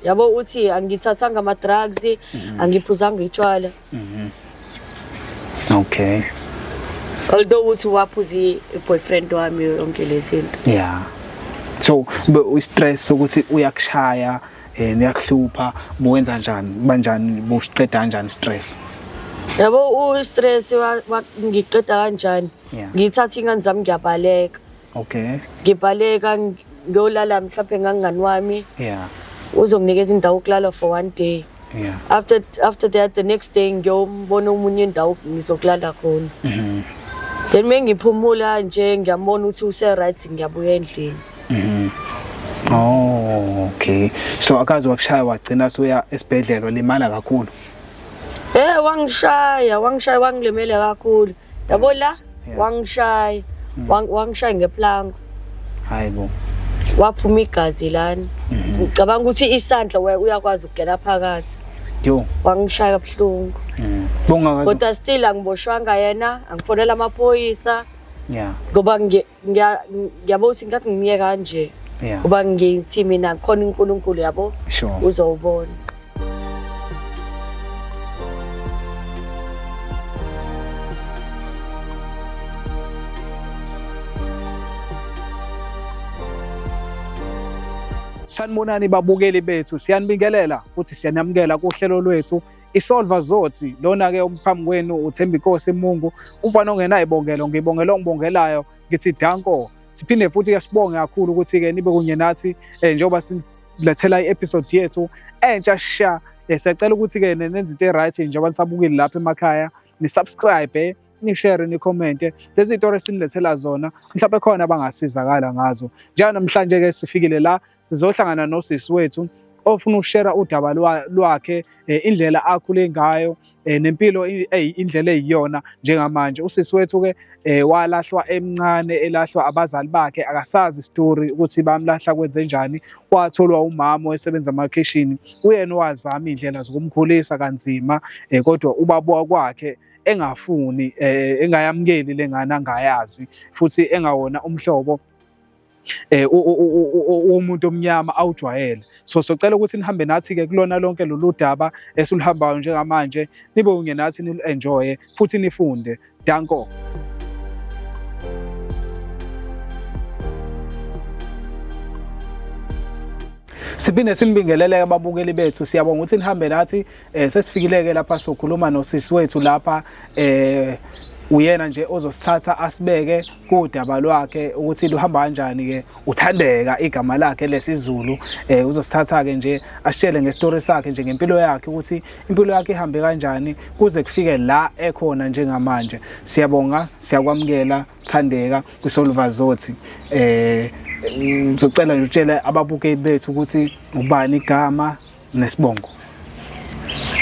yabo uthi angithathanga ama-drugs mhm. angiphuzanga itshwala mhm. okay although uthi waphuza i-boyfriend wami yonke le zinto yeah so i-stress sokuthi uyakushaya um uyakuhlupha buwenza njani banjani busiqeda kanjani stress yabo u-stress ngiqeda kanjani ngithatha iy'ngane zami ngiyabaleka Okay. ngibaleka ng- ngiyolala mhlawumbe ngangani wami Yeah. uzonginikeza indawo yokulala for one day Yeah. after after that the next day ngiyombona omunye indawo ngizokulala khona Mhm. then uma ngiphumula nje ngiyambona ukuthi use-right ngiyabuya endlini Mhm. Oh, okay. So akaze wakushaya wagcina soya esibhedlela limala kakhulu. Eh wangishaya, wangishaya wangilimele kakhulu. Yabo la, Yeah. wangishaya. Mm. Wang- Wangishaya ngeplanka. Hayi bo. Waphuma igazi lana. Mhm. Ngicabanga ukuthi isandla we- uyakwazi ukugena phakathi. Yo. Wangishaya kabuhlungu. Mm. Bongakazi. Kodwa still angiboshwanga yena, angifonela amaphoyisa Yeah. ngoba ngi- Ngiya- ngiyabo ukuthi ngikade ngimye kanje Yeah. ngoba ngithi mina khona unkulunkulu yabo Sure. uzowubona Sanibonani babukeli bethu, siyanibingelela futhi siyanamukela kuhlelo lwethu isolva zothi lona ke okuphambi kwenu uthemba inkosi mungu umfana ongenayo ibongelo ngibongela ongibongelayo ngithi danko siphinde futhi ke sibonge kakhulu ukuthi ke nibe kunye nathi eh, njengoba silethela i-episode yethu entsha sha eh, siyacela ukuthi ke nenze into e-right njengoba nisabukile lapha emakhaya nisubscribe eh, nishare nikhomente lezi zitori esinilethela zona mhlawumbe khona abangasizakala ngazo njalo namhlanje-ke sifikile la sizohlangana nosisi wethu ofuna ukushera udaba lwakhe eh, indlela akhule ngayo eh, nempilo indlela eyiyona njengamanje usisi wethu ke eh, walahlwa emncane elahlwa abazali bakhe akasazi story ukuthi bamlahla kwenze njani watholwa umama osebenza emakhishini uyena owazama indlela zokumkhulisa kanzima kodwa ubaba kwakhe engafuni engayamukeli lengane angayazi futhi engawona umhlobo eh umuntu omnyama awujwayele so socela ukuthi nihambe nathi ke kulona lonke lolu daba esiluhambayo njengamanje nibe unye nathi nilu enjoy futhi nifunde danko siphinde sinibingeleleke ababukeli bethu siyabonga ukuthi nihambe nathi eh, sesifikileke lapha sokhuluma nosisi wethu lapha eh uyena nje ozosithatha asibeke kodaba lwakhe ukuthi luhamba kanjani ke uthandeka igama lakhe lesizulu eh uzosithatha ke nje ashele ngestory sakhe nje ngempilo yakhe ukuthi impilo yakhe ihambe kanjani kuze kufike la ekhona njengamanje siyabonga siyakwamukela thandeka kwisoluvazothi eh ngizocela nje utshele ababukeli bethu ukuthi ubani igama Nesibongo.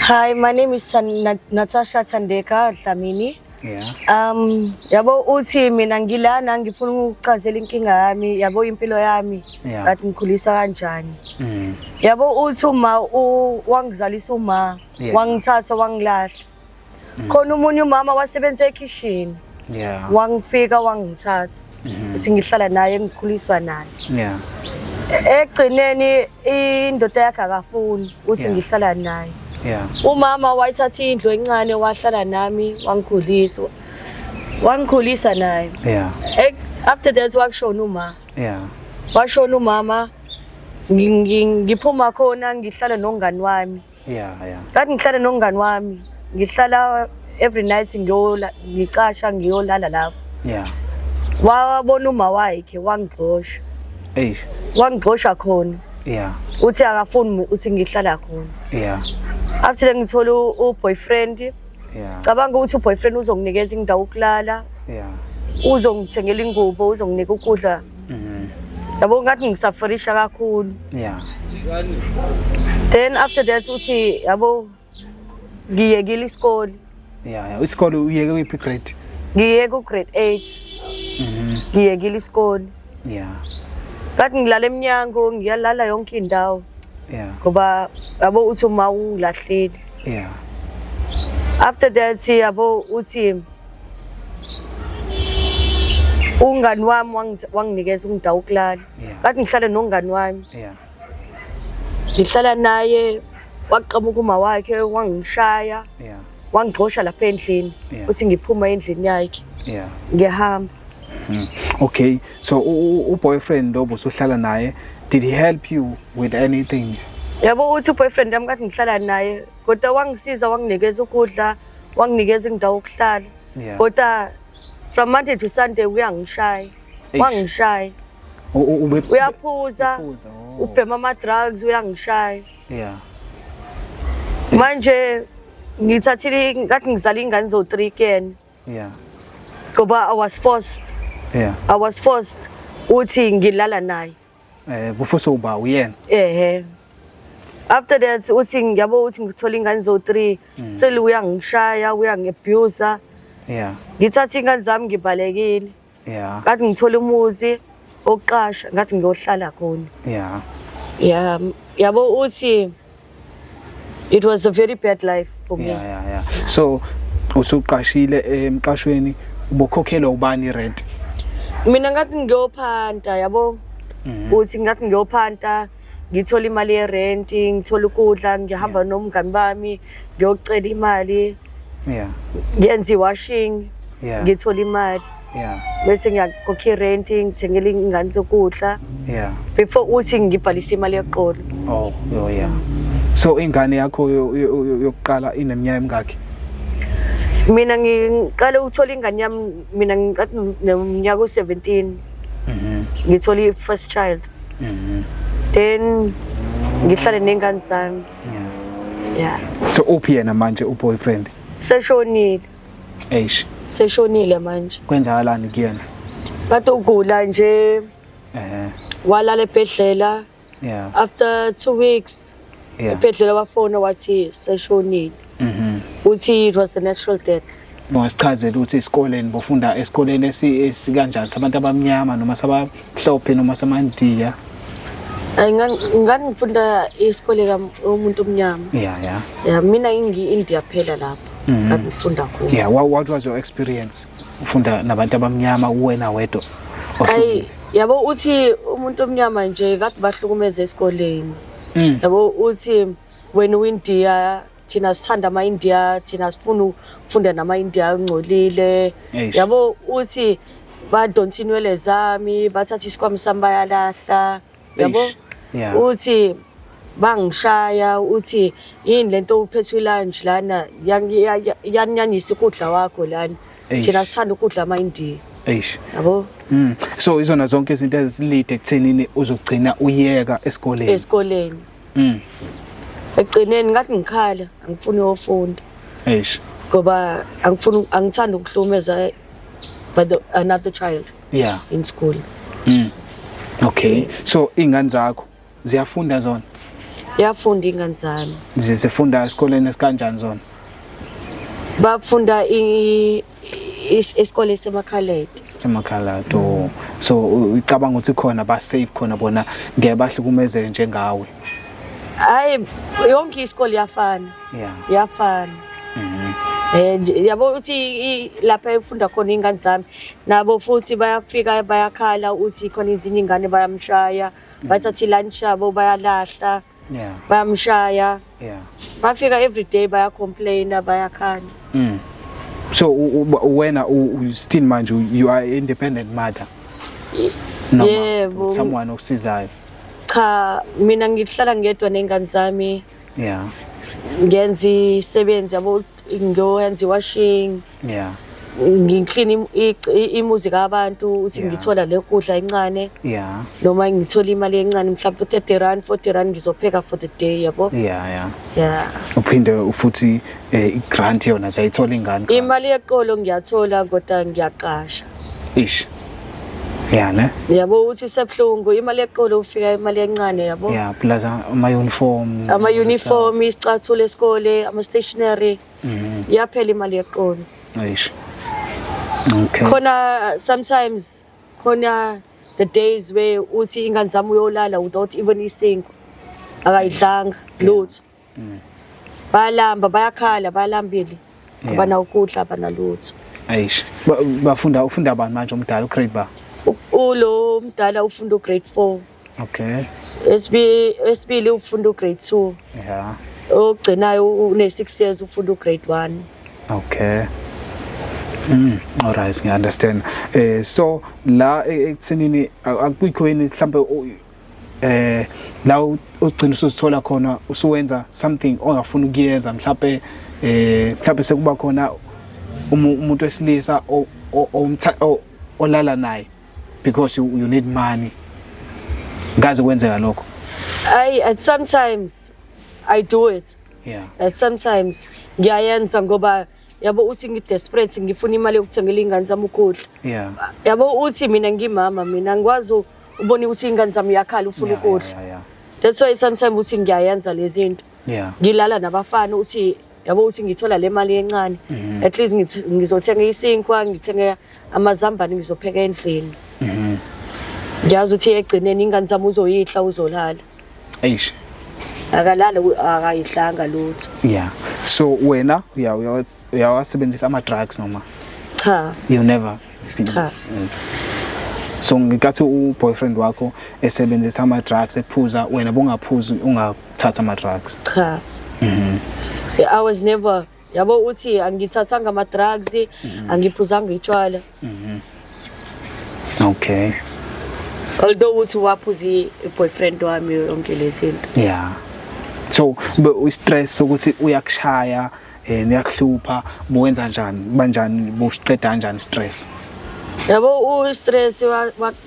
Hi, my name is Nat Natasha Thandeka Dlamini. Yeah. Um, yabo uthi mina ngilana ngifuna ukuchazela inkinga yami, yabo impilo yami. Yeah. Ngathi ngikhulisa kanjani. Mm. Yabo uthi uma wangizalisa uma yeah. wangithatha wangilahla. Mm. khona umunye umama wasebenza ekhishini yeah wangifika wangithatha Mhm. ukuthi ngihlala naye ngikhuliswa naye yeah ekugcineni indoda yakhe akafuni ukuthi Yeah. ngihlala naye yeah umama wayithatha indlu encane wahlala nami wangikhulisa wangikhulisa naye yeah Ek- after that wakushona uma yeah washona umama ngi- ngi- ngiphuma khona ngihlala nongani wami yeah yeah that ngihlale nongani wami ngihlala every night ngiyola ngicasha ngiyolala lapho yeah wabona uma wakhe wangigxosha eish wangigxosha khona yeah uthi akafuni uthi ngihlala khona yeah after ngithola u boyfriend yeah cabanga ukuthi u boyfriend uzonginikeza indawo ukulala yeah uzongithengela ingubo uzonginika ukudla Mhm. Yabo ngathi ngisaferisha kakhulu. Yeah. Then after that uthi yabo ngiyekile isikole. Yeah, yeah. Isikole uyeke kuyiphi grade? Ngiyeke u grade 8. Mhm. Ngiyekile isikole. Yeah. Ngathi ngilala emnyango ngiyalala yonke indawo. Yeah. Ngoba yabo uthi uma ungilahlile. Yeah. After that yabo uthi Ungani wami wanginikeza umndawo ukulala. Bathi ngihlale nongani wami. Yeah. Ngihlala naye waqamuka uma wakhe wangishaya. Yeah. Wangigxosha lapha endlini. Uthi ngiphuma endlini yakhe. Yeah. Ngiyahamba. Hmm. Okay. So u boyfriend obusuhlala naye did he help you with anything? Yabo uthi u boyfriend yami kathi ngihlala naye kodwa wangisiza wanginikeza ukudla wanginikeza indawo yokuhlala Yeah. kodwa from monday to sunday uyangishaya Eish. wangishaya U- u- ube- uyaphuza Uphuza, oh. ubhema ama-drugs uyangishaya Yeah. manje ngithathile ngathi ngizala ingane zo-three kuyena Yeah. ngoba i was forced Yeah. i was forced ukuthi ngilala naye Eh kufusa uba uyena. Ehhe. After that uthi ngiyabo uthi ngithola ingane zo 3 mm. still uyangishaya uyangiabuser. Yeah. Ngithatha ingane zami ngibalekile. Yeah. Ngathi ngithola umuzi oqasha ngathi ngiyohlala khona. Yeah. Yeah. Yabo uthi It was a very bad life for me. Yeah, yeah, yeah. So usuqashile emqashweni ubokhokhelwa ubani rent? Mina ngathi ngiyophanta yabo. Mhm. Uthi ngathi ngiyophanta ngithola imali ye rent, ngithola ukudla, ngihamba nomngani bami, ngiyocela imali. Yeah. Ngiyenza iwashing. Yeah. Ngithola imali. Yeah. bese ngiyakhokha rent ngithengela ingane zokudla Yeah. before uthi ngibhalise imali yeqolo Oh, yo yeah. So ingane yakho yo- yo- yo- yokuqala ineminyaka emingakhi? mina ngiqale ukuthola ingane yami mina ngiqathi nomnyaka u-17 Mhm. ngithola i-first child Mhm. then ngihlale nengane zami Yeah. ya So uphi yena manje uboyfriend? seshonile Eish, seshonile manje kwenzakalani kuyena? kade ugula nje Eh, walala ebhedlela yeah, after two weeks yeah. ebhedlela wafona wathi seshonile Mhm. uthi it was a natural death Ungasichazela ukuthi esikoleni bofunda esikoleni esi- esikanjani sabantu abamnyama noma saba mhlophe noma samandiya Ay, ngan- ngangifunda isikole kamuntu omnyama ya ya ya mina ngiyi-india phela lapho Mhm. ngangifunda kuwo ya wha- what was your experience ufunda nabantu abamnyama uwena wedwa ayi ohlukile yabo uthi umuntu omnyama nje kade bahlukumeza esikoleni Mm. yabo uthi wena uyindiya thina sithanda ama-india thina sifuna ukufunda nama-india ungcolile yabo uthi badonsa inwele zami bathatha isikwami sami bayalahla yabo uthi bangishaya uthi yini lento uphethe ilunch lana yanyanyisa ukudla wakho lana thina sithanda ukudla ama-india eish yabo mm. so izona zonke izinto ezilide ekuthenini uzogcina uyeka esikoleni esikoleni Mm. Ekugcineni ngathi ngikhala angifuni ofunda. Eish. Ngoba angifuni angithanda ukuhlumeza by the another child. Yeah. In school. Mm. Okay. So ingane zakho ziyafunda zona? Yafunda ingane zami. Zizifunda esikoleni esikanjani zona? Bafunda i isikole semakhaladi semakhaladi oh. so ucabanga ukuthi khona ba safe khona bona ngeke bahlukumezeke njengawe hayi yonke isikole iyafana yeah iyafana mhm eh yabo uthi lapha efunda khona ingane zami nabo futhi bayafika bayakhala uthi khona izinye ingane bayamshaya mm. bathathi lunch yabo bayalahla yeah bayamshaya yeah bafika every day baya complain bayakhala mm. so wena still manje you are independent mother noma yebo someone okusizayo cha mina ngihlala ngedwa nengane zami yeah ngenza isebenzi yabo ngiyoyenza iwashing yeah ngiklina imuzi kabantu uthi ngithola le kudla incane yeah noma ngithola imali encane mhlawumbe 30 rand 40 rand ngizopheka for the day yabo yeah yeah yeah uphinde ufuthi eh, i grant yona sayithola ingane imali yeqolo ngiyathola kodwa ngiyaqasha ish yeah ne yabo uthi sebhlungu imali yeqolo ufika imali encane yabo yeah plus ama uniform ama uniform isicathulo esikole ama stationery Mhm. iyaphela imali yeqolo Eish. Okay. khona sometimes khona the days where uthi ingane zami uyolala without even isinkwa akayidlanga lutho Mm. bayalamba bayakhala bayalambile Yeah. abanawukudla abanalutho Eish. Ba- Bafunda ufunda bani manje omdala ugrade ba? U- ulo mdala ufunda ugrade four Okay. Esibi esibili ufunda ugrade 2. Yeah. Ogcinayo une 6 years ufunda ugrade 1. Okay. Mm, all right, ngiya understand. Eh so la e, ekuthenini akukho yini mhlambe eh la ugcina usuzithola khona usuwenza something ongafuni ukuyenza mhlawumbe eh mhlawumbe sekuba khona umuntu wesilisa olala naye because you, you need money ngaze kwenzeka lokho I at sometimes I do it yeah at sometimes ngiyayenza ngoba yabo uthi ngidesperate ngifuna imali yokuthengela ingane zami ukudla yeah yabo uthi mina ngimama mina ngikwazi ubona ukuthi ingane zami yakhala ufuna ukudla yeah, yeah, yeah. that's why sometimes uthi ngiyayenza lezi zinto yeah ngilala nabafana uthi yabo ukuthi ngithola le mali encane mhm. at least ngizothenga isinkwa ngithenge amazambane ngizopheka endlini mhm. ngiyazi ukuthi egcineni ingane zami uzoyihla uzolala eish akalala akayihlanga lutho yeah so wena uyawasebenzisa ama-drugs noma cha you never cha mm. so ngikathi u-boyfriend wakho esebenzisa ama-drugs ephuza wena bongaphuzi thatha ama drugs cha mhm i was never yabo uthi angithathanga ama drugs mhm. angiphuzanga itshwala mhm okay although uthi waphuza i-boyfriend wami yonke lezinto yeah so u-stress sokuthi uyakushaya um uyakuhlupha buwenza njani banjani busiqeda kanjani stress yabo u-stress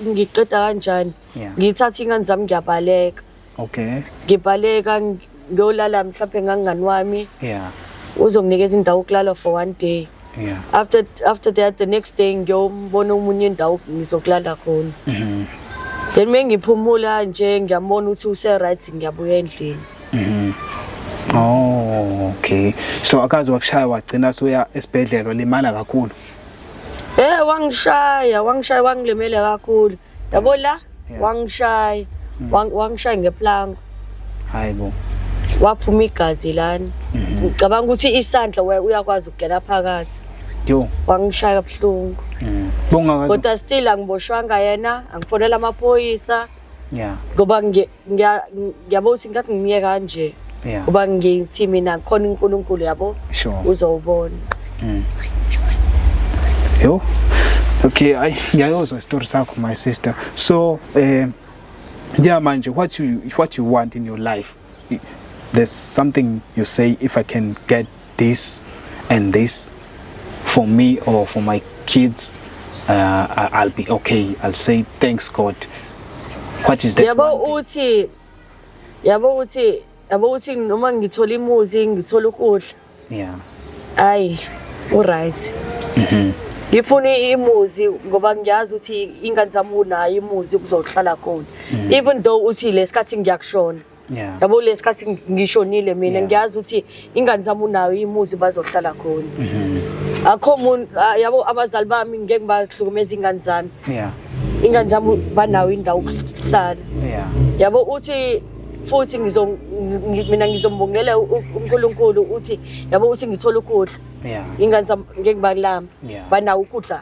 ngiqeda kanjani ngithatha iy'ngane zami ngiyabaleka Okay. Ngibaleka ngiyolala mhlawumbe ngangani wami. Yeah. Uzonginikeza indawo yokulala for one day. Yeah. After after that the next day ngiyombona umunye indawo ngizokulala khona. Mhm. Then mengiphumula nje ngiyambona ukuthi use right ngiyabuya endlini. Mhm. Oh, okay. So akaze wakushaya wagcina soya esibhedlela limala kakhulu. Eh wangishaya, wangishaya wangilimele kakhulu. Yabo la Yeah. wangishaya Mm. wang- wangishaya ngeplanka hayi bo waphuma igazi lani Mhm. ngicabanga ukuthi isandla we- uyakwazi ukugela phakathi yo wangishaya kabuhlungu Mm. bongakazi kodwa still angiboshwanga yena angifonela amaphoyisa ya ngoba ngi- ngiya- ngiyabo ukuthi ngikathi ngimye kanje Yeah. ngoba ngithi mina khona unkulunkulu yabo Sure. uzowubona Yo. Okay, ay ngiyayozwa story sakho my sister. So eh yeah manje what you what you want in your life. There's something you say if I can get this and this for me or for my kids uh, I'll be okay I'll say thanks God what is that yabo uthi yabo uthi yabo uthi noma ngithola imuzi ngithola ukudla yeah ayi u right mhm ngifuna imuzi ngoba ngiyazi ukuthi ingane zami unayo imuzi kuzohlala khona mhm. even though uthi lesikhathi ngiyakushona Yeah. yabo lesikhathi ng- ngishonile mina Yeah. ngiyazi ukuthi ingane zami unayo imuzi bazohlala khona Mhm. akho muntu ah, yabo abazali bami ngeke bahlukumeza ingane zami Yeah. ingane zami banayo indawo yokuhlala Yeah. yabo uthi futhi ngizo ngi- mina ngizombongela u- u- uNkulunkulu uthi yabo uthi ngithola ukudla Yeah. ingane zami ngeke balamba Yeah. banawo ukudla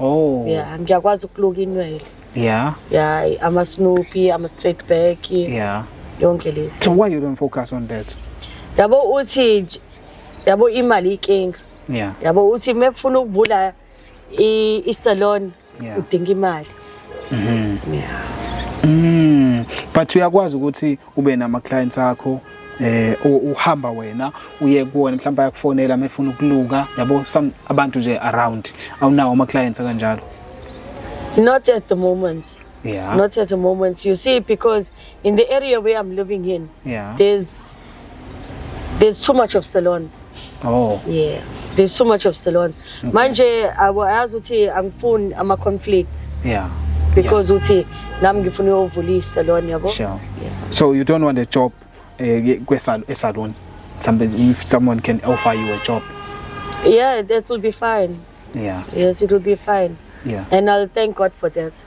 Oh. Yeah, ngiyakwazi ukuluka inwele. Yeah. Yeah, ama Snoopy, ama straight back. Yeah. Yonke lezi. So why you don't focus on that? Yabo uthi yabo imali ikinga. Yeah. Yabo uthi mefuna ukuvula i, i salon yeah. udinga imali. Mhm. Mm yeah. Mm. But uyakwazi ukuthi ube nama clients akho eh uhamba wena uye kuwona mhlawumbe ayakufonela mefuna ukuluka yabo some abantu nje around awunawo ama clients kanjalo not at the moment yeah not at the moment you see because in the area where i'm living in yeah there's there's too much of salons oh yeah there's too much of salons okay. manje ayazi ukuthi angifuni ama conflicts yeah because uthi yeah. nami ngifuna uyovula isalon yabo sure. yeah. so you don't want a job eh, kwesalon somebody if someone can offer you a job yeah that will be fine yeah yes it will be fine yeah and i'll thank god for that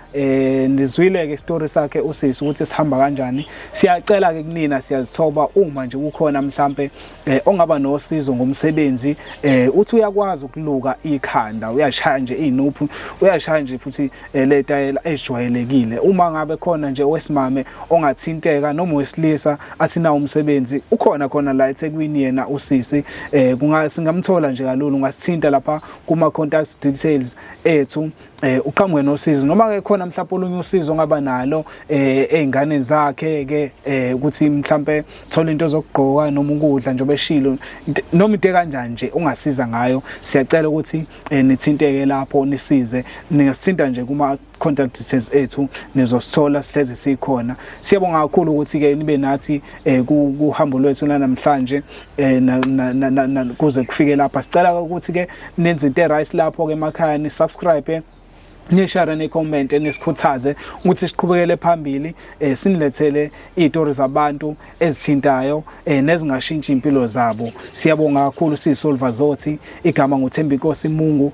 eh nizwile ke story sakhe usisi ukuthi sihamba kanjani siyacela ke kunina siyazithoba uma nje kukhona mhlambe eh, ongaba nosizo ngomsebenzi eh uthi uyakwazi ukuluka ikhanda uyashaya nje inuphu uyashaya nje futhi eh, le tayela ejwayelekile uma ngabe khona nje owesimame ongathinteka noma wesilisa athina umsebenzi ukhona khona la eThekwini yena usisi eh kungasingamthola nje kalulu ungasithinta lapha kuma contact details ethu eh uqhamuke nosizo noma ke khona mhlawumbe olunye usizo ongaba nalo eh ezinganeni zakhe ke eh ukuthi mhlawumbe thola into zokugqoka noma ukudla njengoba eshilo noma into kanjani nje ungasiza ngayo siyacela ukuthi eh, nithinteke lapho nisize ningasithinta nje kuma contact details ethu nizosithola sihlezi sikhona siyabonga kakhulu ukuthi ke nibe nathi eh kuhambo lwethu namhlanje eh kuze kufike lapha sicela ukuthi ke nenze into eright lapho ke emakhaya ni subscribe eh, nishare necomment nisikhuthaze ukuthi siqhubekele phambili eh sinilethele izitori zabantu ezithintayo eh nezingashintshi impilo zabo siyabonga kakhulu siyisolva zothi igama nguThembi Nkosi Mungu